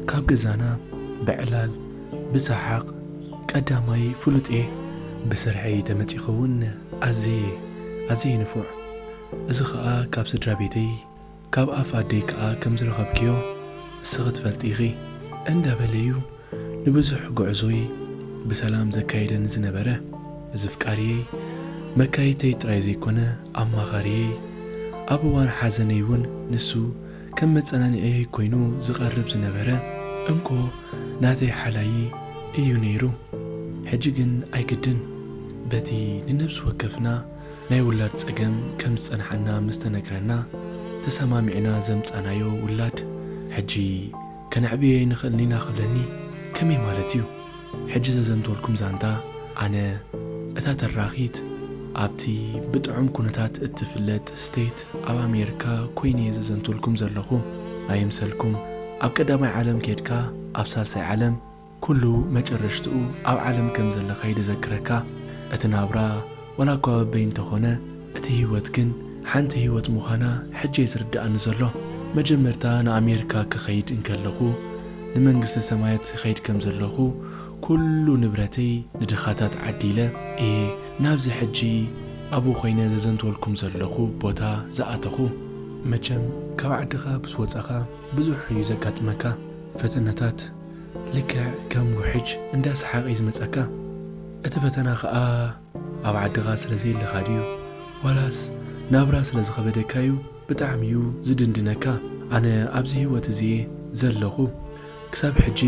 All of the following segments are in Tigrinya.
ካብ ገዛና ብዕላል ብሰሓቕ ቀዳማይ ፍሉጥ እየ ብስርሐይ ተመጺኸ እውን ኣዘየ ኣዘየ ንፉዕ እዚ ኸኣ ካብ ስድራ ቤተይ ካብ ኣፍ ኣደይ ከኣ ከም ዝረኸብክዮ ንስኺ ትፈልጢ ኢኺ። እንዳ በለ'ዩ ንብዙሕ ጉዕዞይ ብሰላም ዘካይደኒ ዝነበረ። እዚ ፍቃርየይ፣ መካይይተይ ጥራይ ዘይኮነ ኣማኻርየይ፣ ኣብ እዋን ሓዘነይ እውን ንሱ ከም መጸናንዒየይ ኮይኑ ዝቐርብ ዝነበረ እንኮ ናተይ ሓላዪ እዩ ነይሩ። ሕጂ ግን ኣይግድን፣ በቲ ንነብሲ ወከፍና ናይ ውላድ ጸገም ከም ዝጸንሓና ምስ ተነግረና ተሰማሚዕና ዘምጻናዮ ውላድ ሕጂ ከነዕብዮ ኣይንኽእልን ኢና ክብለኒ ከመይ ማለት እዩ ሕጂ ዘዘንትወልኩም ዛንታ ኣነ እታ ተራኺት ኣብቲ ብጥዑም ኩነታት እትፍለጥ ስቴት ኣብ ኣሜርካ ኮይነ እየ ዘዘንትወልኩም ዘለኹ ኣይምሰልኩም ኣብ ቀዳማይ ዓለም ኬድካ ኣብ ሳልሳይ ዓለም ኩሉ መጨረሽትኡ ኣብ ዓለም ከም ዘለካ እዩ ደዘክረካ እቲ ናብራ ዋላ እኳ በበይ እንተኮነ እቲ ሂወት ግን ሓንቲ ሂወት ምኳና ሕጂ እዩ ዝርደኣኒ ዘሎ መጀመርታ ንኣሜርካ ክከይድ እንከለኩ ንመንግስተ ሰማያት ይከይድ ከም ዘለኩ ኩሉ ንብረተይ ንድካታት ዓዲለ እየ ናብዚ ሕጂ ኣብኡ ኮይነ ዘዘንትወልኩም ዘለኩ ቦታ ዝኣተኩ። መቸም ካብ ዓድካ ምስ ወጻካ ብዙሕ እዩ ዘጋጥመካ ፈተነታት፣ ልክዕ ከም ውሕጅ እንዳ ሰሓቀ'ዩ ዝመጻካ እቲ ፈተና ከኣ ኣብ ዓድኻ ስለ ዘየለኻ ድዩ ዋላስ ናብራ ስለ ዝኸበደካ'ዩ ብጣዕሚ'ዩ ዝድንድነካ ኣነ ኣብዚ ሂወት እዚ'የ ዘለኹ ክሳብ ሕጂ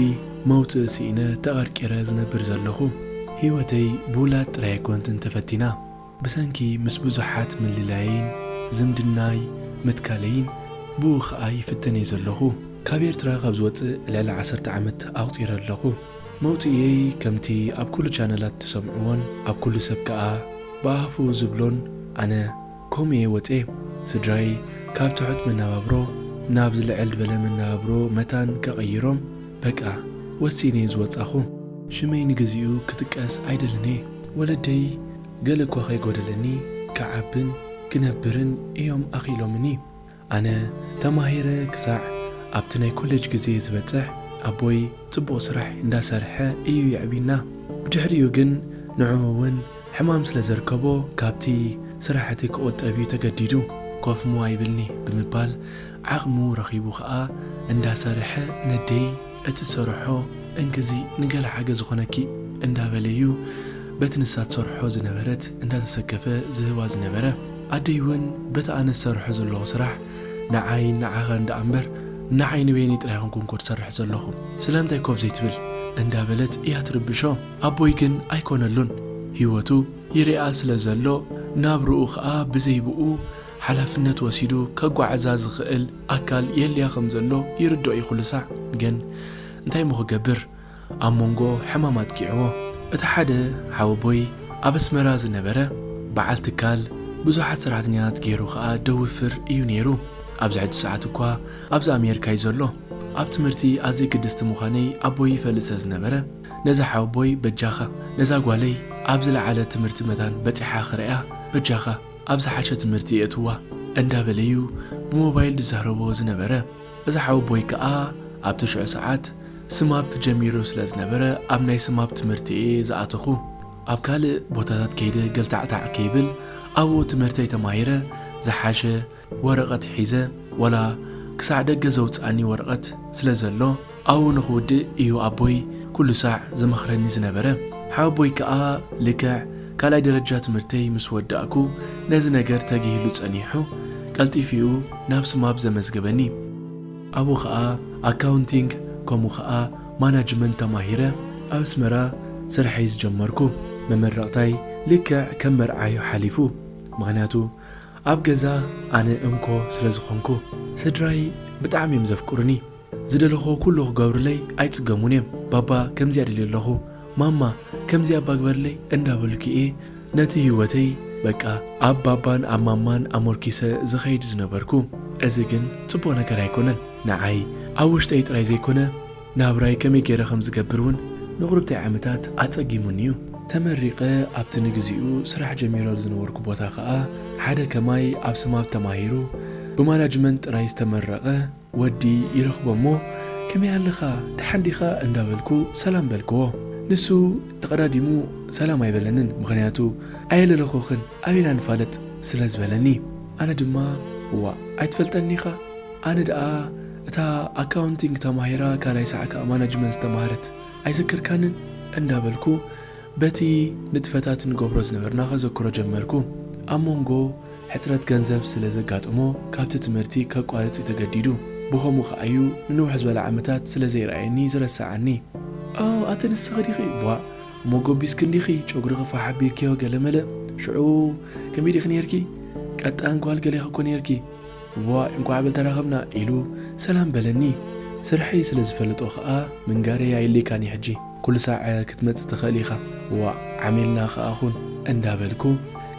መውጽኢ ሲኢነ ተቀርቂረ ዝነብር ዘለኹ ሂወተይ ብውላድ ጥራይ ኣይኮንትን ተፈቲና ብሰንኪ ምስ ብዙሓት ምልላየይን ዝምድናይ ምትካለይን ብኡ ከኣ ይፍተን'የ ዘለኹ። ካብ ኤርትራ ካብ ዝወጽእ ልዕሊ ዓሰርተ ዓመት ኣቑጺረ ኣለኹ። መውጽኢየይ ከምቲ ኣብ ኩሉ ቻነላት ትሰምዕዎን ኣብ ኩሉ ሰብ ከኣ ብኣፉ ዝብሎን ኣነ ከምኡ'የ ወጽየ። ስድራይ ካብ ትሑት መነባብሮ ናብ ዝልዕል በለ መነባብሮ መታን ከቐይሮም፣ በቃ ወሲነ እየ ዝወጻኹ ሽመይ ንግዚኡ ክጥቀስ ኣይደልን እየ ወለደይ ገለ እኳ ከይጎደለኒ ክዓብን ክነብርን እዮም ኣኽኢሎምኒ ኣነ ተማሂረ ክሳዕ ኣብቲ ናይ ኮሌጅ ግዜ ዝበጽሕ ኣቦይ ጽቡቕ ስራሕ እንዳ ሰርሐ እዩ የዕብዩና ብድሕሪኡ ግን ንዕኡ ውን ሕማም ስለ ዘርከቦ ካብቲ ስራሕ እቲ ክቑጠብ እዩ ተገዲዱ ኮፍ ሞዋ ይብልኒ ብምባል ዓቕሙ ረኺቡ ከኣ እንዳ ሰርሐ ነዴይ እቲ ትሰርሖ እንክዚ ንገለ ሓገዝ ዝኾነኪ እንዳ በለ እዩ በቲ ንሳ ትሰርሖ ዝነበረት እንዳ ተሰከፈ ዝህባ ዝነበረ ኣደይ ውን በቲ ኣነ ዝሰርሖ ዘለኹ ስራሕ ንዓይን ንዓኻን ደኣ እምበር ንዓይ ንበይነይ ጥራይ ኣይኮንኩን እኮ ትሰርሕ ዘለኹ ስለምንታይ ኮፍ ዘይትብል እንዳ በለት እያ ትርብሾ ኣቦይ ግን ኣይኮነሉን ሂወቱ ይርኣ ስለ ዘሎ ናብርኡ ከኣ ብዘይ ብኡ ሓላፍነት ወሲዱ ከጓዕዛ ዝኽእል ኣካል የድልያ ከም ዘሎ ይርድኦ ኢዩ ኩሉ ሳዕ ግን እንታይ እሞ ክገብር ኣብ ሞንጎ ሕማም ኣጥቂዕዎ። እቲ ሓደ ሓወቦይ ኣብ ኣስመራ ዝነበረ በዓል ትካል ብዙሓት ሰራሕተኛታት ጌሩ ከኣ ደውፍር ኢዩ ኔሩ ኣብዚ ሕጂ ሰዓት እኳ ኣብዚ ኣሜርካ ኢዩ ዘሎ ኣብ ትምህርቲ ኣዝየ ግድስቲ ምዃነይ ኣቦይ ይፈልጥ ስለ ዝነበረ ነዚ ሓወቦይ በጃኻ ነዛ ጓለይ ኣብ ዝለዓለ ትምህርቲ መታን በጺሓ ክርእያ በጃኻ ኣብ ዝሓሸ ትምህርቲ የእትዋ እንዳበለ ዩ ብሞባይል ዝዛረቦ ዝነበረ። እዚ ሓወቦይ ከኣ ኣብቲ ሽዑ ሰዓት ስማፕ ጀሚሩ ስለ ዝነበረ ኣብ ናይ ስማፕ ትምህርቲ እየ ዝኣተኹ። ኣብ ካልእ ቦታታት ከይደ ገልታዕታዕ ከይብል ኣብኡ ትምህርተይ ተማሂረ ዝሓሸ ወረቐት ሒዘ ዋላ ክሳዕ ደገ ዘውጽኣኒ ወረቐት ስለ ዘሎ፣ ኣው ንኽውድእ እዩ ኣቦይ ኩሉ ሳዕ ዝመኽረኒ ዝነበረ። ሓወቦይ ከኣ ልክዕ ካልኣይ ደረጃ ትምህርተይ ምስ ወዳእኩ ነዚ ነገር ተግሂሉ ጸኒሑ ቀልጢፉ'ዩ ናብ ስማፕ ዘመዝገበኒ። ኣብኡ ከኣ ኣካውንቲንግ ከምኡ ከኣ ማናጅመንት ተማሂረ ኣብ ኣስመራ ስርሐይ ዝጀመርኩ። መመረቕታይ ልክዕ ከም መርዓ'ዩ ሓሊፉ ምኽንያቱ ኣብ ገዛ ኣነ እንኮ ስለ ዝኾንኩ። ስድራይ ብጣዕሚ'ዮም ዘፍቅሩኒ። ዝደለኽዎ ኩሉ ክገብሩለይ ኣይጽገሙን እዬም ባባ ከምዚኣ ደልየ ኣለኹ ማማ ከምዚ ኣባ ግበርለይ እንዳበሉኪ እየ ነቲ ሂወተይ በቃ ኣብ ባባን ኣብ ማማን ኣሞርኪሰ ዝኸይድ ዝነበርኩ እዚ ግን ጽቡቅ ነገር ኣይኮነን ንዓይ ኣብ ውሽጠይ ጥራይ ዘይኮነ ናብራይ ከመይ ጌረ ከም ዝገብር ውን ንቁርብተይ ዓመታት ኣጸጊሙኒ እዩ ተመሪቀ ኣብቲ ንግዚኡ ስራሕ ጀሚረሉ ዝነበርኩ ቦታ ከኣ ሓደ ከማይ ኣብ ስማፕ ተማሂሩ ብማናጅመንት ጥራይ ዝተመረቀ ወዲ ይረኽቦ እሞ ከመይ ኣለኻ ደሓን ዲኻ እንዳበልኩ ሰላም በልክዎ ንሱ ተቐዳዲሙ ሰላም ኣይበለንን ምኽንያቱ ኣየለለኹኽን ኣበይ ኢና ንፋለጥ ስለ ዝበለኒ ኣነ ድማ ዋእ ኣይትፈልጠንን ኢኻ ኣነ ደኣ እታ ኣካውንቲንግ ተማሂራ ካልኣይ ሳዕ ከኣ ማናጅመንት ዝተማህረት ኣይዘከርካንን እንዳበልኩ በቲ ንጥፈታት ንገብሮ ዝነበርና ከዘክሮ ጀመርኩ ኣብ መንጎ ሕጽረት ገንዘብ ስለ ዘጋጠሞ ካብቲ ትምህርቲ ከቋርጽ እዩ ተገዲዱ። ብኸምኡ ከኣ እዩ ንንውሕ ዝበለ ዓመታት ስለ ዘይረኣየኒ ዝረሰዓኒ። ኣው ኣቲ ንስኺ ዲኺ ቧእ እሞ ጎቢስኪ እንዲኺ ጨጉርኺ ፋሕ ኣቢልክዮ ገለ መለ ሽዑ ከምይ ዲኺ ኔርኪ ቀጣን ጓል ገሌኺ እኮ ኔርኪ እዋእ እንቋዕ በል ተራኸብና ኢሉ ሰላም በለኒ። ስርሐይ ስለ ዝፈለጦ ከኣ ምንጋረይ ኣየድልየካን እዩ ሕጂ። ኩሉሳዕ ክትመጽእ ትኽእል ኢኻ ዋእ ዓሚልና ከኣ ኹን እንዳበልኩ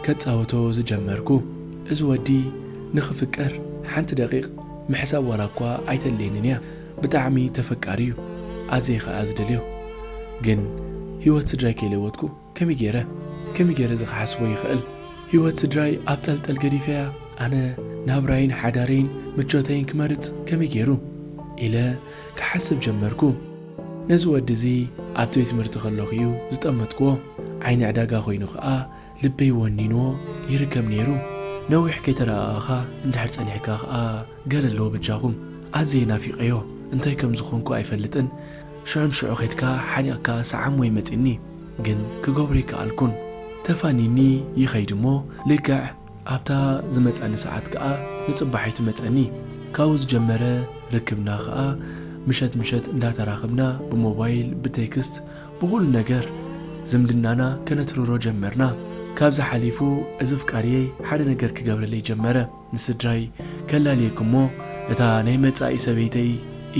ከጻውቶ ዝጀመርኩ እዚ ወዲ ንኽፍቀር ሓንቲ ደቒቕ ምሕሳብ ዋላኳ ኣይተድልየንን እያ ብጣዕሚ ተፈቃሪ እዩ ኣዝየ ከኣ ዝደልዮ ግን ሂወት ስድራይ ከይለወጥኩ ከመይ ጌረ ከመይ ጌረ እዚ ክሓስቦ ይኽእል ሂወት ስድራይ ኣብ ጠልጠል ገዲፈያ ኣነ ናብራይን ሓዳረይን ምቾተይን ክመርጽ ከመይ ጌሩ ኢለ ክሓስብ ጀመርኩ ነዚ ወዲ እዚ ኣብ ቤት ትምህርቲ ከለኹ እዩ ዝጠመትክዎ ዓይኒ ዕዳጋ ኮይኑ ከኣ ልበይ ወኒንዎ ይርከብ ኔሩ ነዊሕ ከይተረኣኣኻ እንድሕር ጸኒሕካ ከኣ ገለ ኣለዎ በጃኹም ኣዝየ ናፊቐዮ እንታይ ከም ዝኾንኩ ኣይፈልጥን ሽዑ ንሽዑ ከድካ ሓኒቕካ ሰዓም ወይ መጺኒ ግን ክገብሮ ኣይከኣልኩን ተፋኒኒ ይኸይድ እሞ ልክዕ ኣብታ ዝመጻኒ ሰዓት ከኣ ንጽባሒቱ መጸኒ ካብኡ ዝጀመረ ርክብና ከኣ ምሸት ምሸት እንዳተራኽብና ብሞባይል ብቴክስት ብኹሉ ነገር ዝምድናና ከነትርሮ ጀመርና ካብዚ ሓሊፉ እዚ ኣፍቃሪየይ ሓደ ነገር ክገብረለይ ጀመረ ንስድራይ ከላልየኩም እሞ እታ ናይ መጻኢ ሰበይተይ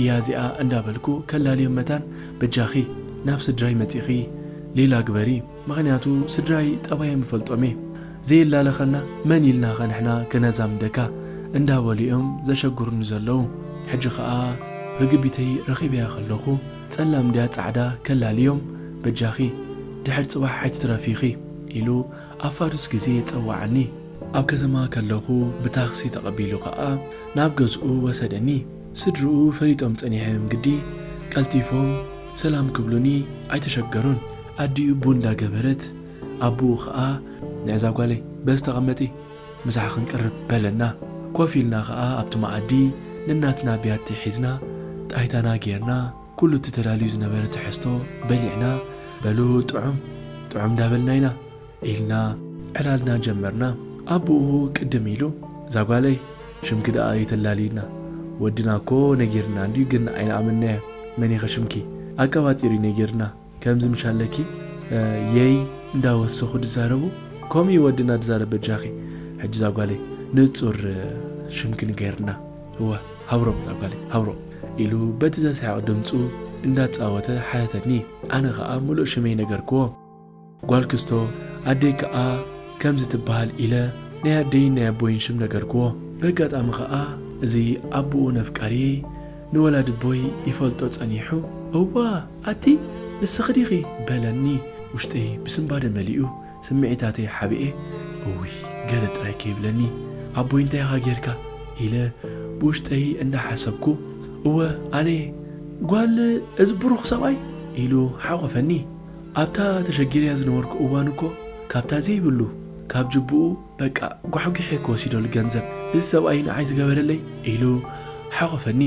እያ እዚኣ እንዳበልኩ ከላልዮም መታን በጃኺ ናብ ስድራይ መጺኺ ሌላ ግበሪ ምኽንያቱ ስድራይ ጠባዮም ይፈልጦም እየ ዘየላለኸና መን ኢልናኸ ንሕና ከነዛምደካ እንዳበሉ እዮም ዘሸግሩኒ ዘለዉ ሕጂ ኸኣ ርግቢተይ ረኺበያ ከለኹ ጸላም ድያ ጻዕዳ ከላልዮም በጃኺ ድሕር ጽባሕ ኣይትትረፊ ኢኺ ኢሉ ኣብ ፋዱስ ግዜ ጸወዓኒ። ኣብ ከተማ ከለኹ ብታክሲ ተቐቢሉ ከኣ ናብ ገዝኡ ወሰደኒ። ስድርኡ ፈሊጦም ጸኒሐም ግዲ ቀልቲፎም ሰላም ክብሉኒ ኣይተሸገሩን። ኣዲኡ ቡን እንዳገበረት ኣቡኡ ከኣ ንዕዛ ጓለይ በዚ ተቐመጢ ምሳሕ ክንቅርብ በለና። ኮፍ ኢልና ከኣ ኣብቲ መኣዲ ነናትና ብያቲ ሒዝና ጣይታና ጌርና። ኩሉ እቲ ተዳልዩ ዝነበረ ትሕዝቶ በሊዕና፣ በሉ ጥዑም ጥዑም እንዳበልና ኢና ኢልና ዕላልና ጀመርና። ኣቡኡ ቅድም ኢሉ፣ እዛ ጓለይ ሽምኪ ደኣ ኣይተላልይና፣ ወድና እኮ ነጊርና እንድዩ ግን ኣይንኣመንናዮን፣ መን ኢኺ ሽምኪ? ኣቀባጢሩ'ዩ ነጊርና። ከምዚ ምሽ ኣለኪ የይ እንዳ ወሰኹ ድዛረቡ ከምኡ ዩ ወድና ድዛረብ በጃኺ ሕጂ ዛጓለይ ንጹር ሽምኪ ንገርና እወ ሃብሮም ዛጓለይ ሃብሮም ኢሉ በቲ ዘስሕቕ ድምጹ እንዳጻወተ ሓተተኒ ኣነ ኸኣ ምሉእ ሽመይ ነገርክዎ ጓል ክስቶ ኣደይ ከኣ ከምዚ ትበሃል ኢለ ናይ ኣደይን ናይ ኣቦይን ሽም ነገርክዎ በጋጣሚ ኸኣ እዚ ኣቡኡ ነፍቃሪየይ ንወላዲቦይ ይፈልጦ ጸኒሑ፣ እዋ ኣቲ ንስኺ ዲኺ? በለኒ። ውሽጠይ ብስንባደ መሊኡ፣ ስምዒታተይ ሓቢኤ፣ እውይ ገለ ጥራይ ከይብለኒ ኣቦይ እንታይ ኢኻ ጌርካ? ኢለ ብውሽጠይ እናሓሰብኩ፣ እወ ኣነ'የ ጓል እዚ ብሩኽ ሰብኣይ! ኢሉ ሓቖፈኒ። ኣብታ ተሸጊረያ ዝነበርኩ እዋን እኮ ካብታ ዘይብሉ ካብ ጅቡኡ፣ በቃ ጓሕጒሐ ክወሲደሉ ገንዘብ እዚ ሰብኣይ ንዓይ ዝገበረለይ ኢሉ ሓቖፈኒ።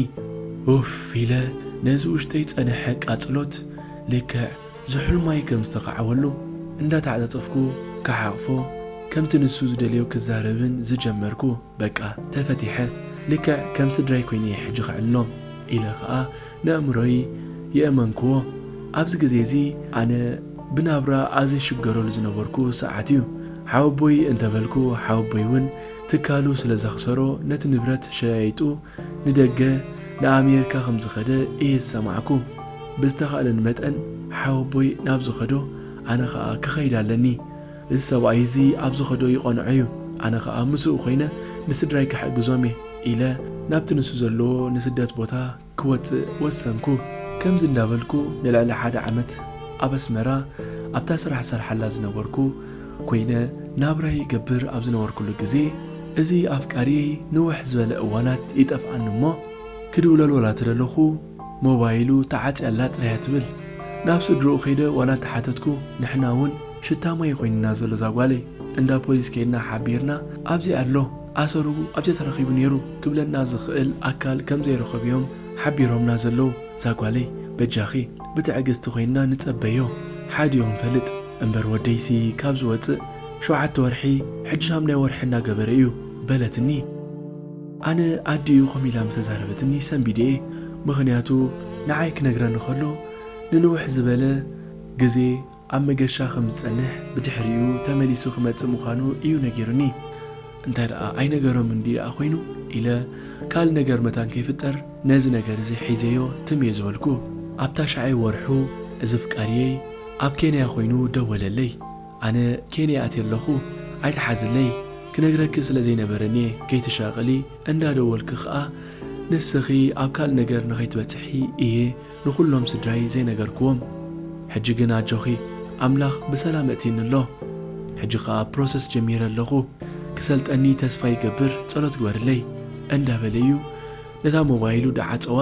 ኡፍ ኢለ ነዚ ውሽጠይ ዝጸነሐ ቃጽሎት ልክዕ ዝሑልማይ ከም ዝተኻዕወሉ እንዳተዓጻጸፍኩ ክሓቕፎ ከምቲ ንሱ ዝደልዮ ክዛረብን ዝጀመርኩ በቃ ተፈቲሐ ልክዕ ከም ስድራይ ኮይነ'የ ሕጂ ከዕልሎ ኢለ ከኣ ነእምሮይ የእመንክዎ ኣብዚ ግዜ እዚ ኣነ ብናብራ ኣዝሽገረሉ ዝነበርኩ ሰዓት እዩ ሓወቦይ እንተበልኩ ሓወቦይ ውን ትካሉ ስለ ዘኽሰሮ ነቲ ንብረት ሸያይጡ ንደገ ንኣሜርካ ከም ዝኸደ እየ ዝሰማዕኩ ብዝተኻእለኒ መጠን ሓወቦይ ናብ ዝኸዶ ኣነ ኸኣ ክኸይድ ኣለኒ እዚ ሰብኣይ እዚ ኣብ ዝኸዶ ይቐንዖ እዩ፣ ኣነ ኸኣ ምስኡ ዀይነ ንስድራይ ክሕግዞም እየ ኢለ፣ ናብቲ ንሱ ዘለዎ ንስደት ቦታ ክወጽእ ወሰንኩ። ከምዚ እንዳበልኩ ንልዕሊ ሓደ ዓመት ኣብ ኣስመራ ኣብታ ስራሕ ዝሰርሓላ ዝነበርኩ ኰይነ ናብራይ ይገብር ኣብ ዝነበርኩሉ ግዜ፣ እዚ ኣፍቃሪየይ ንውሕ ዝበለ እዋናት ይጠፍኣኒ እሞ፣ ክድውለልወላ ተደለኹ፣ ሞባይሉ ተዓጽያላ ጥራያ ትብል ናብ ስድርኡ ከይደ ዋላ እንተሓተትኩ ንሕና ውን ሽታ ማይ ዩ ኮይንና ዘሎ እዛ ጓለይ እንዳ ፖሊስ ከይድና ሓቢርና ኣብዚ ኣሎ ኣሰሩ ኣብዚ ተረኺቡ ኔሩ ክብለና ዝኽእል ኣካል ከም ዘይረኸቡ ዮም ሓቢሮምና ዘለዉ እዛ ጓለይ በጃኺ ብትዕግስቲ ኮይንና ንጸበዮ ሓዲኡ ክንፈልጥ እምበር ወደይሲ ካብ ዝወጽእ ሸውዓተ ወርሒ ሕጂ ሻምናይ ወርሒ እንዳገበረ ዩ በለትኒ። ኣነ ኣዲ እዩ ከምኡ ኢላ ምስተዛረበትኒ ሰንቢደ'የ ምኽንያቱ ንዓይ ክነግረኒ ከሎ ንንውሕ ዝበለ ግዜ ኣብ መገሻ ከም ዝጸንሕ ብድሕሪኡ ተመሊሱ ክመጽእ ምዃኑ እዩ ነጊሩኒ እንታይ ደኣ ኣይነገሮምን ድዩ ደኣ ኮይኑ ኢለ ካልእ ነገር መታን ከይፍጠር ነዚ ነገር እዚ ሒዘዮ ትም እየ ዝበልኩ ኣብ ታሽዓይ ወርሑ እዚ ፍቃርየይ ኣብ ኬንያ ኮይኑ ደወለለይ ኣነ ኬንያ ኣትየ ኣለኹ ኣይትሓዝለይ ክነግረኪ ስለ ዘይነበረኒየ ከይትሻቀሊ እንዳ ደወልኪ ክኣ ንስኺ ኣብ ካልእ ነገር ንኸይትበጽሒ ኢየ ንኹሎም ስድራይ ዘይነገርክዎም ሕጂ ግን ኣጆኺ ኣምላኽ ብሰላም እእትይኒ ኣሎ ሕጂ ክኣ ፕሮሰስ ጀሚረ ኣለኹ ክሰልጠኒ ተስፋ ይገብር ጸሎት ግበርለይ እንዳ በለ ኢዩ ነታ ሞባይሉ ድዓጸዋ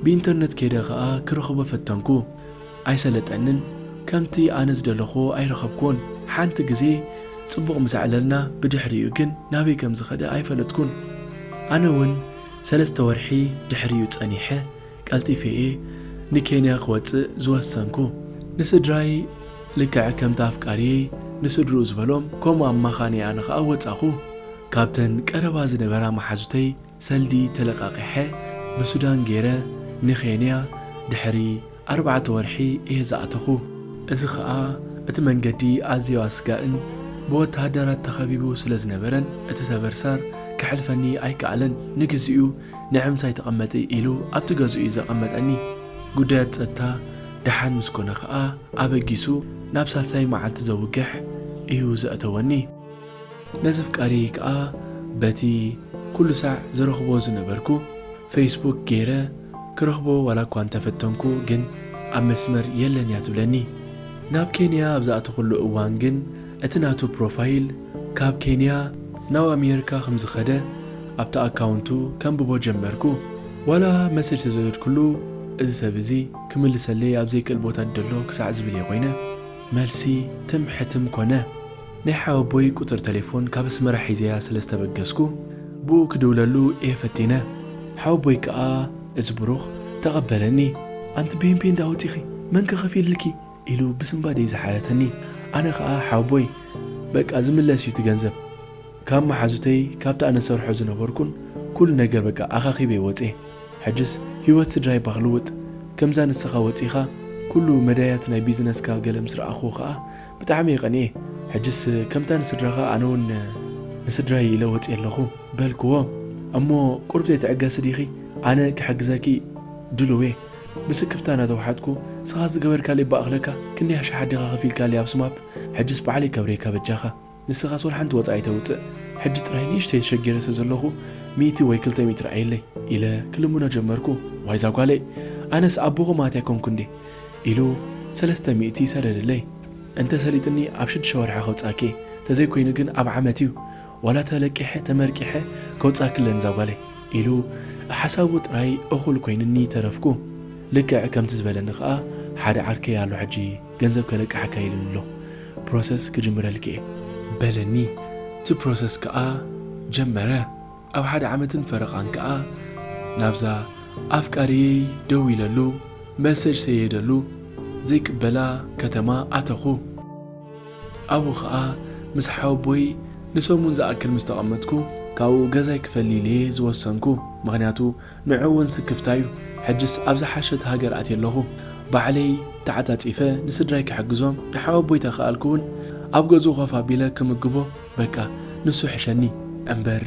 ብኢንተርነት ከይደ ክኣ ክረኽቦ ፈተንኩ ኣይሰለጠንን ከምቲ ኣነ ዝደለኽዎ ኣይረኸብክዎን ሓንቲ ግዜ ጽቡቕ ምስ ኣዕለልና ብድሕሪኡ ግን ናበይ ከም ዝኸደ ኣይፈለጥኩን ኣነ ውን ሰለስተ ወርሒ ድሕሪኡ ጸኒሐ ቀልጢፈ እየ ንኬንያ ክወጽእ ዝወሰንኩ ንስድራይ ልክዕ ከምቲ ኣፍቃርየይ ንስድርኡ ዝበሎም ከምኡ ኣማኻንየ ኣነ ከኣ ወጻኹ ካብተን ቀረባ ዝነበራ መሓዙተይ ሰልዲ ተለቃቂሐ ብሱዳን ገይረ ንኬንያ ድሕሪ ኣርባዕተ ወርሒ እየ ዝኣተኹ። እዚ ከኣ እቲ መንገዲ ኣዝዮ ኣስጋእን ብወተሃደራት ተኸቢቡ ስለ ዝነበረን እቲ ሰበርሳር ከሕልፈኒ ኣይከኣለን። ንግዚኡ ንዕምሳይ ተቐመጢ ኢሉ ኣብቲ ገዝኡ እዩ ዘቐመጠኒ። ጉዳያት ጸጥታ ደሓን ምስ ኮነ ከኣ ኣበጊሱ ናብ ሳልሳይ መዓልቲ ዘውግሕ እዩ ዘእተወኒ። ነዚ ፍቃደይ ከኣ በቲ ኩሉ ሳዕ ዝረኽቦ ዝነበርኩ ፈይስቡክ ገይረ ክረኽቦ ዋላ እኳ እንተ ፈተንኩ ግን ኣብ መስመር የለን እያ ትብለኒ። ናብ ኬንያ ኣብ ዝኣተኹሉ እዋን ግን እቲ ናቱ ፕሮፋይል ካብ ኬንያ ናብ ኣሜርካ ከም ዝኸደ ኣብቲ ኣካውንቱ ከንብቦ ጀመርኩ። ዋላ መሰጅ ተዘወደድኩሉ እዚ ሰብ እዚ ክምልሰለይ ኣብ ዘይክእል ቦታ ደሎ ክሳዕ ዝብል እየ ኮይነ። መልሲ ትም ሕትም ኮነ። ናይ ሓወቦይ ቁጽሪ ተሌፎን ካብ ኣስመራ ሒዘያ ስለ ዝተበገስኩ ብኡ ክድውለሉ እየ ፈቲነ ሓወቦይ ከኣ እዚ ብሩኽ ተቐበለኒ። ኣንቲ ፔንፔን ድኣ ወጺኺ መን ከ ከፊልልኪ ኢሉ ብስንባደይ ዝሓተተኒ ኣነ ከኣ ሓወቦይ በቃ ዝምለስ እዩ እቲ ገንዘብ ካብ መሓዙተይ ካብቲ ኣነ ዝሰርሖ ዝነበርኩን ኩሉ ነገር በቃ ኣኻኺበ ወጼ ሕጅስ ሂወት ስድራይ እባ ክልውጥ ከምዛ ንስኻ ወጺኻ ኩሉ መዳያት ናይ ቢዝነስካ ገለ ምስ ረኣኽዎ ከኣ ብጣዕሚ ቀኒኤ ሕጅስ ከምታ ንስድራኻ ኣነ ውን ንስድራይ ኢለ ወጽየ ኣለኹ በልክዎ እሞ ቁሩብ ዘይትዕገሲ ዲኺ ኣነ ክሕግዘኪ ድሉውየ ብስክፍታ ናተውሓጥኩ ስኻ ዝገበርካለይ ባእኽለካ ክንደይ ኣሽሓት ዲኻ ከፊልካለይ ኣብ ስማፕ ሕጅስ ባዕለይ ከብርየካ በጃኻ ንስኻስ ወልሓንቲ ወጻኢ ኣይተውጽእ ሕጂ ጥራይ ንእሽተይ ተሸጊረ ስለዘለኹ ሚእቲ ወይ ክልተ ሚእቲ ርኣየለይ ኢለ ክልምኖ ጀመርኩ ዋይ ዛጓለይ ኣነስ ኣቦኹም ኣትያ ኮንኩ እንዴ ኢሉ ሰለስተ ሚእቲ ሰደደለይ እንተ ሰሊጥኒ ኣብ ሽዱሽተ ወርሒ ከውጻኪየ ተዘይ ኮይኑ ግን ኣብ ዓመት ዩ ዋላ ተለቂሐ ተመርቂሐ ከውጻኪ ኣለኒ እዛ ጓለይ ኢሉ ሓሳቡ ጥራይ እኩል ኮይኑኒ ተረፍኩ ልክዕ ከምቲ ዝበለኒ ከኣ ሓደ ዓርከይ ኣሎ ሕጂ ገንዘብ ከለቅሓካ ኢሉኒ ኣሎ ፕሮሰስ ክጅምረልኪየ በለኒ እቲ ፕሮሰስ ከኣ ጀመረ። ኣብ ሓደ ዓመትን ፈረቓን ከኣ ናብዛ ኣፍቃሪየይ ደዊለሉ መሰጅ ሰየደሉ ዘይቅበላ ከተማ ኣተኹ። ኣብኡ ከኣ ምስ ሓወቦይ ንሰሙን ዝኣክል ምስ ተቐመጥኩ ካብኡ ገዛይ ክፈሊልየ ዝወሰንኩ። ምኽንያቱ ንዑ እውን ስክፍታዩ። ሕጅስ ኣብ ዝሓሸት ሃገር ኣትየ ኣለኹ። ባዕለይ ተዓጻጺፈ ንስድራይ ክሕግዞም ንሓወቦይ ተከኣልኩ እውን ኣብ ገዝኡ ኮፍ ኣቢለ ክምግቦ፣ በቃ ንሱ ይሕሸኒ እምበር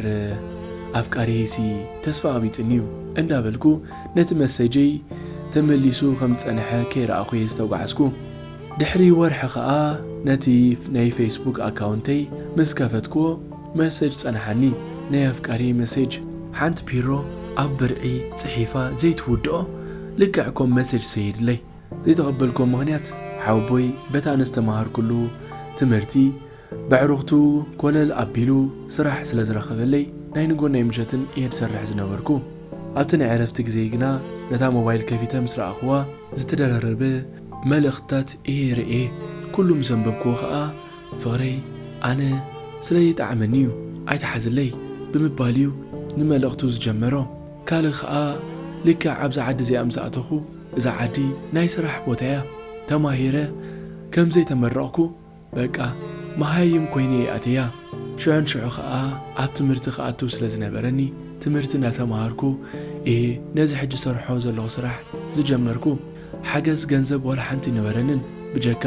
ኣፍቃርየይሲ ተስፋ ቐቢጽኒ'ዩ እንዳበልኩ ነቲ መሰጀይ ተመሊሱ ከም ዝጸንሐ ከይረኣኹ'የ ዝተጓዕዝኩ። ድሕሪ ወርሒ ከኣ ነቲ ናይ ፈይስቡክ ኣካውንተይ ምስ ከፈትኩዎ መሰጅ ጸንሓኒ፣ ናይ ኣፍቃርየይ መሴጅ። ሓንቲ ፒሮ ኣብ ብርዒ ጽሒፋ ዘይትውድኦ ልክዕ ኮም መሰጅ ሰይድለይ። ዘይተቐበልኩዎ ምኽንያት ሓወቦይ በታ ንዝተማሃርኩሉ ትምህርቲ በዕሩኽቱ ኮለል ኣቢሉ ስራሕ ስለ ዝረኸበለይ ናይ ንጎን ናይ ምሸትን እየ ዝሰርሕ ዝነበርኩ። ኣብቲ ናይ ዕረፍቲ ግዜይ ግና ነታ ሞባይል ከፊተ ምስ ረኣኹዋ፣ ዝተደራረበ መልእኽትታት እየ ርእየ። ኩሉ ምስ ኣንበብኩዎ ከኣ ፍቕረይ ኣነ ስለ ዘይጠዓመኒ'ዩ ኣይትሓዝለይ ብምባል'ዩ ንመልእኽቱ ዝጀመሮ። ካልእ ከኣ ልክዕ ኣብዛ ዓዲ እዚኣ ምስ ኣተኹ፣ እዛ ዓዲ ናይ ስራሕ ቦታ'ያ፣ ተማሂረ ከም ዘይተመረቕኩ በቃ መሃይም ኮይነ እየ ኣትየያ። ሽዑን ሽዑ ከኣ ኣብ ትምህርቲ ክኣቱ ስለ ዝነበረኒ ትምህርቲ እንዳተመሃርኩ እየ ነዚ ሕጂ ዝሰርሖ ዘለኹ ስራሕ ዝጀመርኩ። ሓገዝ ገንዘብ ዋላ ሓንቲ ኣይነበረንን ብጀካ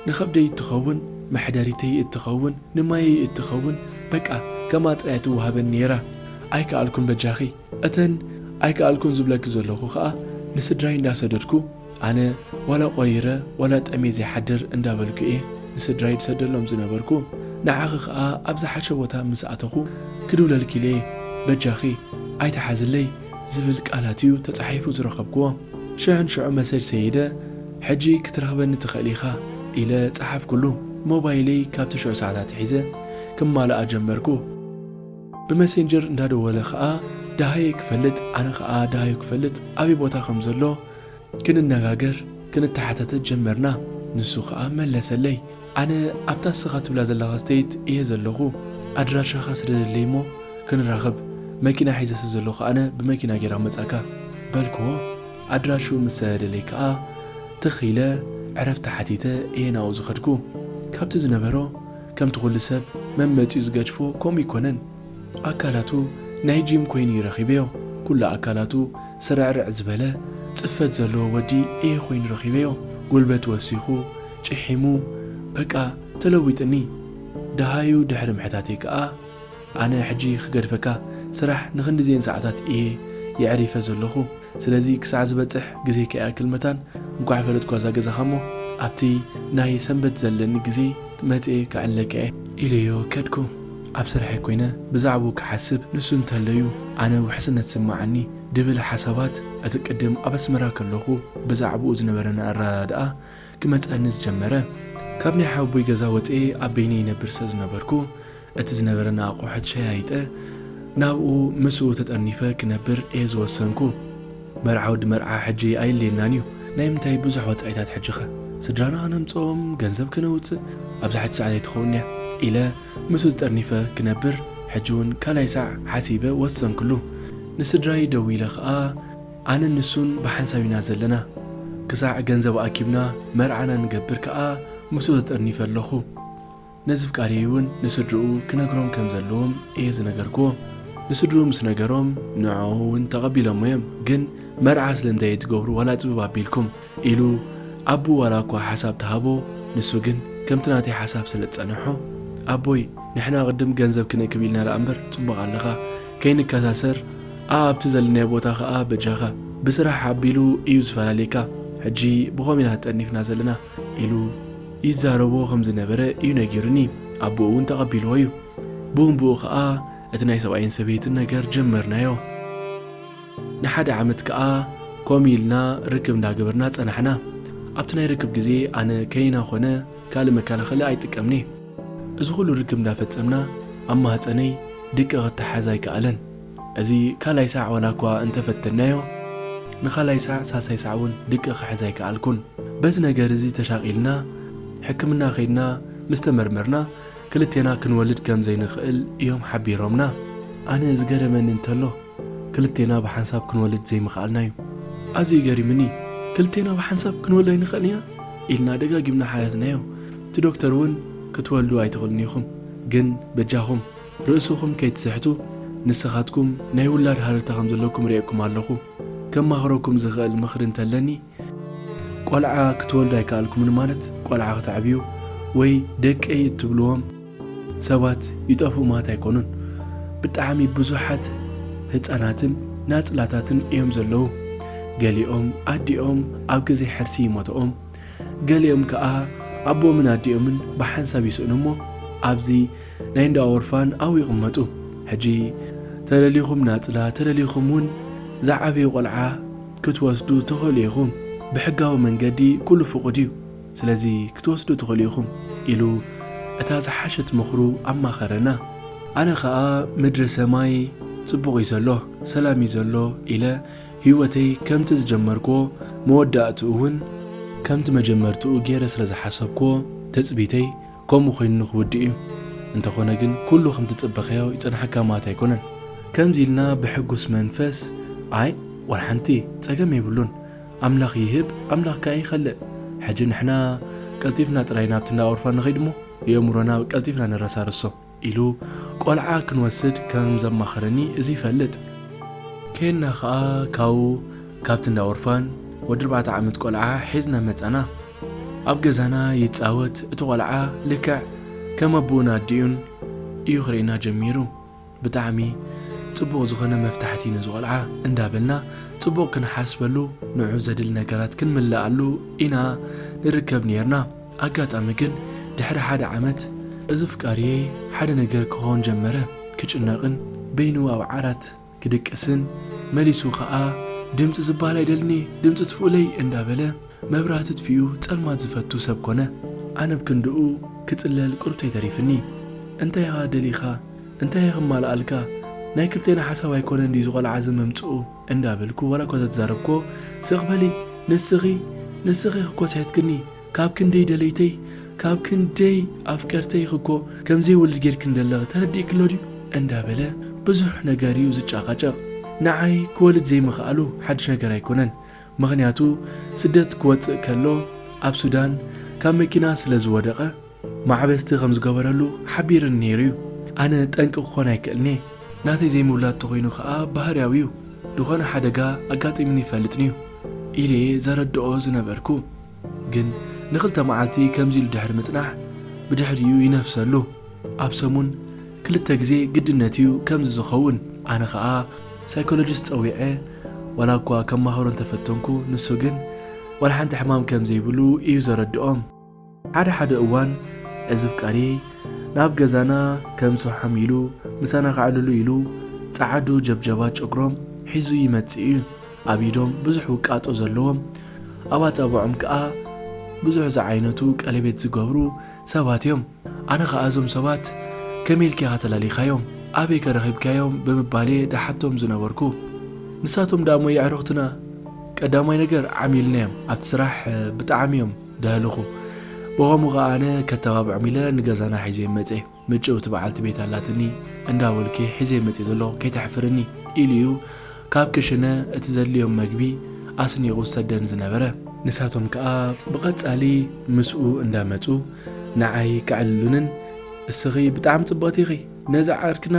ንኸብደይ እትኸውን፣ መሕደሪተይ እትኸውን፣ ንማየይ እትኸውን በቃ ከምኣ ጥራይ እያ ትወሃበኒ ነይራ። ኣይከኣልኩን በጃኺ። እተን ኣይከኣልኩን ዝብለኪ ዘለኹ ከኣ ንስድራይ እንዳሰደድኩ ኣነ ዋላ ቆሪረ ዋላ ጠምየ ዘይሓድር እንዳበልኩ እየ ንስድራይ ድሰደሎም ዝነበርኩ ንዓኺ ከኣ ኣብ ዝሓሸ ቦታ ምስ ኣተኹ ክድውለልኪልየ በጃኺ ኣይትሓዝለይ ዝብል ቃላት እዩ ተጻሒፉ ዝረኸብክዎ ሽሕን ሽዑ መሰጅ ሰይደ ሕጂ ክትረኽበኒ ትኽእል ኢኻ ኢለ ጸሓፍኩሉ ሞባይለይ ካብቲ ሽዑ ሰዓት ኣትሒዘ ክማልኣ ጀመርኩ። ብመሴንጀር እንዳደወለ ከኣ ደሃየይ ክፈልጥ ኣነ ከኣ ደሃዩ ክፈልጥ ኣበይ ቦታ ከም ዘሎ ክንነጋገር ክንተሓታተት ጀመርና ንሱ ከኣ መለሰለይ ኣነ ኣብታ እስኻ ትብላ ዘለኻ ስተይት እየ ዘለኹ ኣድራሻኻ ስደደለይ እሞ ክንራኸብ መኪና ሒዘ ስለ ዘለኹ ኣነ ብመኪና ጌራ ክመጻካ በልክዎ ኣድራሽኡ ምስ ሰደደለይ ከኣ ትኽ ኢለ ዕረፍቲ ሓቲተ እየ ናብኡ ዝኸድኩ ካብቲ ዝነበሮ ከምቲ ኩሉ ሰብ መመጺኡ ዝገድፎ ከምኡ ኣይኮነን ኣካላቱ ናይ ጂም ኮይኑ እዩ ረኪበዮ ኩሉ ኣካላቱ ስርዕርዕ ዝበለ ጽፈት ዘለዎ ወዲ እየ ኮይኑ ረኪበዮ ጉልበት ወሲኩ ጪሒሙ በቃ ተለዊጥኒ ደሃዩ ድሕሪ ምሕታተይ ከኣ ኣነ ሕጂ ክገድፈካ ስራሕ ንክንድዜን ሰዓታት እየ የዕሪፈ ዘለኩ ስለዚ ክሳዕ ዝበጽሕ ግዜ ከይኣክል መታን እንኳዕ ፈለጥኳ እዛ ገዛካ እሞ ኣብቲ ናይ ሰንበት ዘለኒ ግዜ መጽየ ክዕለካ እየ ኢለዮ ከድኩ ኣብ ስርሐይ ኮይነ ብዛዕብኡ ክሓስብ ንሱ እንተለዩ ኣነ ውሕስነት ዝስምዓኒ ድብል ሓሳባት እቲ ቅድም ኣብ ኣስመራ ከለኩ ብዛዕብኡ ዝነበረኒ ኣረዳድኣ ክመጸኒ ዝጀመረ ካብ ናይ ሓወቦይ ገዛ ወጽየ ኣብ በይነይ ይነብር ስለዝነበርኩ እቲ ዝነበረና ኣቑሑት ሸያይጠ ናብኡ ምስኡ ተጠርኒፈ ክነብር እየ ዝወሰንኩ። መርዓውዲ መርዓ ሕጂ ኣየድልየናን እዩ። ናይ ምንታይ ብዙሕ ወጻኢታት ሕጂኸ? ስድራና ክነምጽኦም፣ ገንዘብ ክነውጽእ ኣብዛ ሕጂ ሰዓት ኣይትኸውን እያ ኢለ ምስኡ ተጠርኒፈ ክነብር ሕጂ'ውን ካልኣይ ሳዕ ሓሲበ ወሰንክሉ። ንስድራይ ደዊለ ከኣ ኣነን ንሱን ብሓንሳብ ኢና ዘለና። ክሳዕ ገንዘብ ኣኪብና መርዓና ንገብር ከኣ ምስኡ ተጠርኒፈ ኣለኹ። ነዝፍቃርየይ እውን ንስድርኡ ክነግሮም ከም ዘለዎም እየ ዝነገርክዎ። ንስድርኡ ምስ ነገሮም ንዕዖ እውን ተቐቢሎሞ እዮም። ግን መርዓ ስለምንታይ እዩ ትገብሩ ዋላ ጽብብ ኣቢልኩም? ኢሉ ኣቡኡ ዋላ እኳ ሓሳብ ተሃቦ ንሱ ግን ከምቲ ናተይ ሓሳብ ስለ ዝጸነሖ ኣቦይ ንሕና ቅድም ገንዘብ ክንእክብ ኢልና ደኣ እምበር ጽቡቕ ኣለኻ ከይንከሳሰር ኣኣብቲ ዘለናዮ ቦታ ከኣ በጃኻ ብስራሕ ኣቢሉ እዩ ዝፈላልየካ ሕጂ ብኮሚናት ጠርኒፍና ዘለና ኢሉ ይዛረቦ ከም ዝነበረ እዩ ነጊሩኒ። ኣቦኡ እውን ተቐቢልዎ እዩ። ብኡንብኡ ከኣ እቲ ናይ ሰብኣይን ሰበይትን ነገር ጀመርናዮ። ንሓደ ዓመት ከኣ ኮም ኢልና ርክብ እንዳገበርና ጸናሕና። ኣብቲ ናይ ርክብ ግዜ ኣነ ከይና ኮነ ካልእ መከላኸሊ ኣይጥቀምን እየ። እዚ ኩሉ ርክብ እንዳፈጸምና ኣብ ማህጸነይ ድቂ ክተሓዝ ኣይከኣለን። እዚ ካልኣይ ሳዕ ዋላኳ እንተፈተንናዮ ንኻልኣይ ሳዕ ሳልሳይ ሳዕ ውን ድቂ ክሕዝ ኣይከኣልኩን። በዚ ነገር እዚ ተሻቒልና ሕክምና ከይድና ምስ ተመርመርና ክልቴና ክንወልድ ከም ዘይንኽእል እዮም ሓቢሮምና። ኣነ ዝገረመኒ እንተሎ ክልቴና ብሓንሳብ ክንወልድ ዘይምኽኣልና እዩ። ኣዝዩ ገሪሙኒ። ክልቴና ብሓንሳብ ክንወልድ ኣይንኽእልን ኢና ኢልና ደጋጊምና ሓተትናዮ። እቲ ዶክተር ውን ክትወልዱ ኣይትኽእሉን ኢኹም ግን በጃኹም ርእስኹም ከይትስሕቱ ንስኻትኩም ናይ ውላድ ሃረርታ ከም ዘለኩም ርእየኩም ኣለኹ ከማኽረኩም ዝኽእል ምኽሪ እንተለኒ፣ ቆልዓ ክትወልዱ ኣይከኣልኩምን ማለት ቆልዓ ክተዕብዩ ወይ ደቀይ እትብልዎም ሰባት ይጠፍኡ ማለት ኣይኮኑን ብጣዕሚ ብዙሓት ህጻናትን ናጽላታትን እዮም ዘለዉ ገሊኦም ኣዲኦም ኣብ ግዜ ሕርሲ ይሞተኦም ገሊኦም ከኣ ኣቦኦምን ኣዲኦምን ብሓንሳብ ይስእኑ እሞ ኣብዚ ናይ እንዳ ኦርፋን ኣብኡ ይቕመጡ። ሕጂ ተደሊኹም ናጽላ ተደሊኹም ውን ዝዓበየ ቆልዓ ክትወስዱ ትኽእሉ ኢኹም ብሕጋዊ መንገዲ ኩሉ ፍቑድ እዩ ስለዚ ክትወስዱ ትኽእሉ ኢኹም ኢሉ እታ ዝሓሸት ምኽሩ ኣማኸረና። ኣነ ከኣ ምድሪ ሰማይ ጽቡቕ እዩ ዘሎ ሰላም እዩ ዘሎ ኢለ ሂወተይ ከምቲ ዝጀመርክዎ መወዳእትኡ ውን ከምቲ መጀመርትኡ ጌረ ስለ ዝሓሰብክዎ ትጽቢተይ ከምኡ ኮይኑ ንክውድእ እዩ እንተኾነ ግን ኩሉ ከምቲ ጽበካዮ ይጸንሓካ ማለት ኣይኮነን። ከምዚ ኢልና ብሕጉስ መንፈስ ኣይ ዋላ ሓንቲ ጸገም የብሉን ኣምላኽ ይህብ ኣምላኽ ከኣ ይኸልእ ሕጂ ንሕና ቀልጢፍና ጥራይ ናብቲ እንዳ ኦርፋን ንኸይድ እሞ የእምሮና ቀልጢፍና ንረሳርሶ። ኢሉ ቆልዓ ክንወስድ ከም ዘማኸረኒ እዚ ይፈልጥ። ኬድና ከኣ ካብኡ ካብቲ እንዳ ኦርፋን ወዲ ኣርባዕተ ዓመት ቆልዓ ሒዝና መጻና። ኣብ ገዛና ይጻወት እቲ ቆልዓ ልክዕ ከም ኣቡኡን ኣዲኡን እዩ ክርእየና ጀሚሩ። ብጣዕሚ ጽቡቕ ዝኾነ መፍታሕቲ ነዚ ቆልዓ እንዳ በልና ጽቡቕ ክንሓስበሉ ንዑ ዘድሊ ነገራት ክንምልኣሉ ኢና ንርከብ ኔርና። ኣጋጣሚ ግን ድሕሪ ሓደ ዓመት እዚ ኣፍቃሪየይ ሓደ ነገር ክኾን ጀመረ፣ ክጭነቕን በይኑ ኣብ ዓራት ክድቅስን መሊሱ ከኣ ድምጺ ዝብሃል ኣይደልን'የ ድምጺ ትፍኡለይ እንዳበለ መብራህቲ ኣጥፊኡ ጸልማት ዝፈቱ ሰብ ኮነ። ኣነ ብ ክንድኡ ክጽለል ቁርብተይ ተሪፍኒ። እንታይ ኢኻ ደሊኻ እንታይ'የ ክማልኣልካ ናይ ክልቴና ሓሳብ ኣይኮነን ድዩ እዚ ቆልዓ እዚ ምምጽኡ እንዳበልኩ ዋላኳ ዘትዛረብክዎ ስቕ በሊ ንስኺ ንስኺ ክኮስሒትክኒ ካብ ክንደይ ደለይተይ ካብ ክንደይ ኣፍቀርተይ ኽኮ ከምዘይ ወልድ ጌርክኒ ደለኺ ተረዲእክሎ ድዩ እንዳ በለ ብዙሕ ነገር እዩ ዝጫቃጨቅ ንዓይ ክወልድ ዘይምኽኣሉ ሓድሽ ነገር ኣይኮነን ምኽንያቱ ስደት ክወጽእ ከሎ ኣብ ሱዳን ካብ መኪና ስለ ዝወደቀ ማዕበስቲ ከም ዝገበረሉ ሓቢርኒ ነይሩ እዩ። ኣነ ጠንቂ ክኾን ኣይክእልን እየ። ናተይ ዘይምውላድ ተኾይኑ ከኣ ባህርያዊ እዩ። ዝኾነ ሓደጋ ኣጋጢሙኒ ይፈልጥን እዩ። ኢለ እየ ዘረድኦ ዝነበርኩ። ግን ንክልተ መዓልቲ ከምዚ ኢሉ ድሕሪ ምጽናሕ ብድሕሪኡ ይነፍሰሉ። ኣብ ሰሙን ክልተ ግዜ ግድነት እዩ ከምዚ ዝኸውን። ኣነ ከኣ ሳይኮሎጂስት ጸዊዐ ዋላ እኳ ከማኽሮ እንተፈተንኩ ንሱ ግን ዋላ ሓንቲ ሕማም ከም ዘይብሉ እዩ ዘረድኦም። ሓደ ሓደ እዋን እዚ ፍቃሬ ናብ ገዛና ከም ሰውሓም ኢሉ ምሳና ከዕልሉ ኢሉ ጸዓዱ ጀብጀባት ጨጉሮም ሒዙ ይመጽእ እዩ። ኣብ ኢዶም ብዙሕ ውቃጦ ዘለዎም ኣብ ኣጻብዖም ከኣ ብዙሕ ዝዓይነቱ ቀሌቤት ዝገብሩ ሰባት እዮም። ኣነ ከኣ እዞም ሰባት ከመይ ኢልካ ኢኻ ተላሊኻዮም? ኣበይከ ረኺብካዮም? ብምባል'የ ድሓቶም ዝነበርኩ። ንሳቶም ደኣ'ሞ የዕሩኽትና ቀዳማይ ነገር ዓሚልና'ዮም ኣብቲ ስራሕ ብጣዕሚ'ዮም በልኹ። ብኸምኡ ከኣ ኣነ ከተባብዖም ኢለ ንገዛና ሒዘዮም መጸ። ምጭውቲ በዓልቲ ቤት ኣላትኒ፣ እንዳ በልኪ ሒዘዮም መጺኤ ዘለኹ ከይተሕፍርኒ ኢሉ እዩ ካብ ክሽነ እቲ ዘድልዮም መግቢ ኣስኒቑ ዝሰደኒ ዝነበረ። ንሳቶም ከኣ ብቐጻሊ ምስኡ እንዳ መጹ ንዓይ ከዕልሉንን እስኺ ብጣዕሚ ጽብቕቲ ኢኺ፣ ነዛ ዓርክና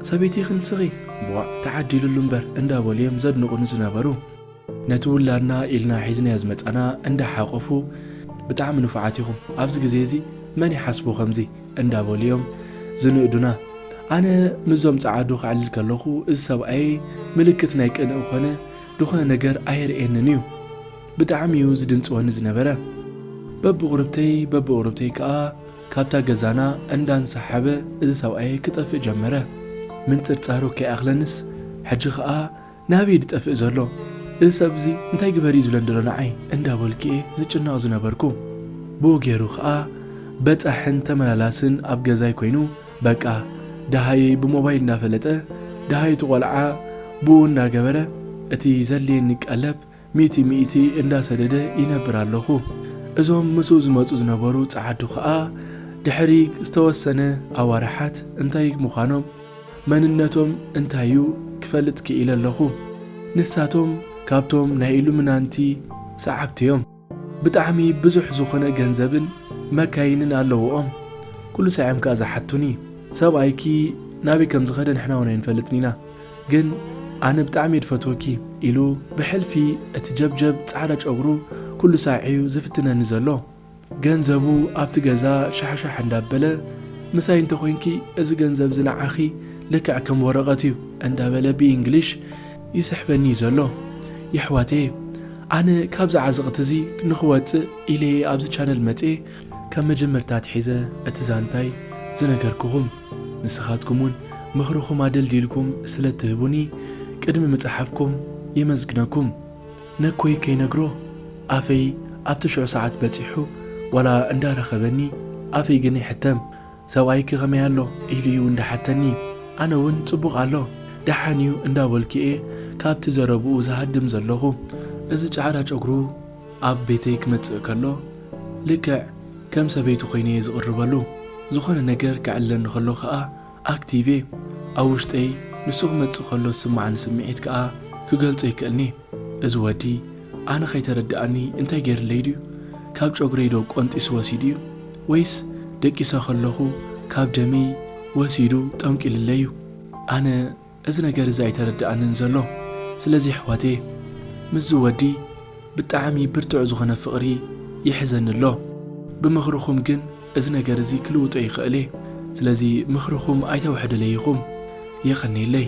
ሰበይቲ ኢኺ ንስኺ፣ ብዋእ ተዓዲልሉ እምበር እንዳ በሉ እዮም ዘድንቑኒ ዝነበሩ። ነቲ ውላድና ኢልና ሒዝናዮ ዝመጻና እንዳ ሓቆፉ ብጣዕሚ ንፉዓት ኢኹም ኣብዚ ግዜ እዚ መን ይሓስቦ ከምዚ እንዳ በሉ እዮም ዝንእዱና ኣነ ምስዞም ጸዓዱ ከዕልል ከለኹ እዚ ሰብኣየይ ምልክት ናይ ቅንኢ ኮነ ድኾነ ነገር ኣየርእየንን እዩ ብጣዕሚ እዩ ዝድንጽወኒ ዝነበረ በብቑርብተይ በብቑርብተይ ከኣ ካብታ ገዛና እንዳ እንሰሓበ እዚ ሰብኣየይ ክጠፍእ ጀመረ ምንጽርጻሩ ከይኣኽለንስ ሕጂ ከኣ ናበይ እዩ ዝጠፍእ ዘሎ እዚ ሰብ እዚ እንታይ ግበር እዩ ዝብለኒ ዘሎ ንዓይ እንዳበልኩ እየ ዝጭነቕ ዝነበርኩ ብኡ ገይሩ ከኣ በጻሕን ተመላላስን ኣብ ገዛይ ኮይኑ በቃ ደሃየይ ብሞባይል እናፈለጠ ደሃዩ እቲ ቆልዓ ብኡ እንዳገበረ እቲ ዘድልየኒ ቀለብ ሚእቲ ሚእቲ እንዳ ሰደደ ይነብር ኣለኹ። እዞም ምስኡ ዝመጹ ዝነበሩ ጸዓዱ ከኣ ድሕሪ ዝተወሰነ ኣዋርሓት እንታይ ምዃኖም መንነቶም እንታይ'ዩ ክፈልጥ ክኢለ ኣለኹ። ንሳቶም ካብቶም ናይ ኢሉሚናንቲ ሰዓብቲ'ዮም። ብጣዕሚ ብዙሕ ዝኾነ ገንዘብን መካይንን ኣለውኦም። ኩሉ ሳዕ እዮም ከኣ ዝሓቱኒ ሰብኣይኪ ናበይ ከም ዝኸደ ንሕና'ውን ኣይንፈልጥን ኢና። ግን ኣነ ብጣዕሚ'የ ድፈትወኪ ኢሉ ብሕልፊ እቲ ጀብጀብ ጻዕዳ ጨጉሩ ኩሉ ሳዕ'ዩ ዝፍትነኒ ዘሎ። ገንዘቡ ኣብቲ ገዛ ሻሕሻሕ እንዳበለ ምሳይ እንተኮይንኪ እዚ ገንዘብ'ዚ ንዓኺ ልክዕ ከም ወረቀት'ዩ እንዳበለ ብኢንግሊሽ ይስሕበኒ'ዩ ዘሎ። የሕዋተየ ኣነ ካብዚ ዓዘቅቲ'ዚ ንክወጽእ ኢለ'የ ኣብዚ ቻነል መጽየ ካብ መጀመርታ ኣትሒዘ እቲ ዛንታይ ዝነገርኩኹም። ንስኻትኩም ውን ምኽርኹም ኣደልዲልኩም ስለ እትህቡኒ ቅድሚ ምጽሓፍኩም የመስግነኩም። ነኮይ ከይነግሮ ኣፈይ ኣብ ትሽዑ ሰዓት በጺሑ ዋላ እንዳ ረኸበኒ ኣፈይ ግን ይሕተም ሰብኣይኪ ከመይ ኣሎ ኢሉ ዩ እንዳ ሓተኒ ኣነ ውን ጽቡቕ ኣሎ ደሓን ዩ እንዳ በልኩ እየ ካብቲ ዘረብኡ ዝሃድም ዘለኹ እዚ ጫዕዳ ጨጉሩ ኣብ ቤተይ ክመጽእ ከሎ ልክዕ ከም ሰበይቲ ኮይነ'የ ዝቕርበሉ። ዝኾነ ነገር ክዕለኒ ከሎ ከኣ ኣክቲቭ'የ። ኣብ ውሽጠይ ንሱ ክመጽእ ከሎ ዝስምዓኒ ስምዒት ከኣ ክገልጾ ኣይክእልን'የ። እዚ ወዲ ኣነ ከይተረድኣኒ እንታይ ጌርለይ ድዩ? ካብ ጨጉረይ ዶ ቆንጢሱ ወሲዱ'ዩ? ወይስ ደቂሰ ከለኹ ካብ ደመይ ወሲዱ ጠንቂሉለይ'ዩ? ኣነ እዚ ነገር እዚ ኣይተረደኣንን ዘሎ ስለዚ ኣሕዋተየ ምስዚ ወዲ ብጣዓሚ ብርትዑ ዝኮነ ፍቅሪ ይሕዘኒ ኣሎ ብምክርኩም ግን እዚ ነገር እዚ ክልውጦ ይክእል እየ ስለዚ ምክርኩም ኣይተውሕድለይ ኢኩም የቀኔለይ።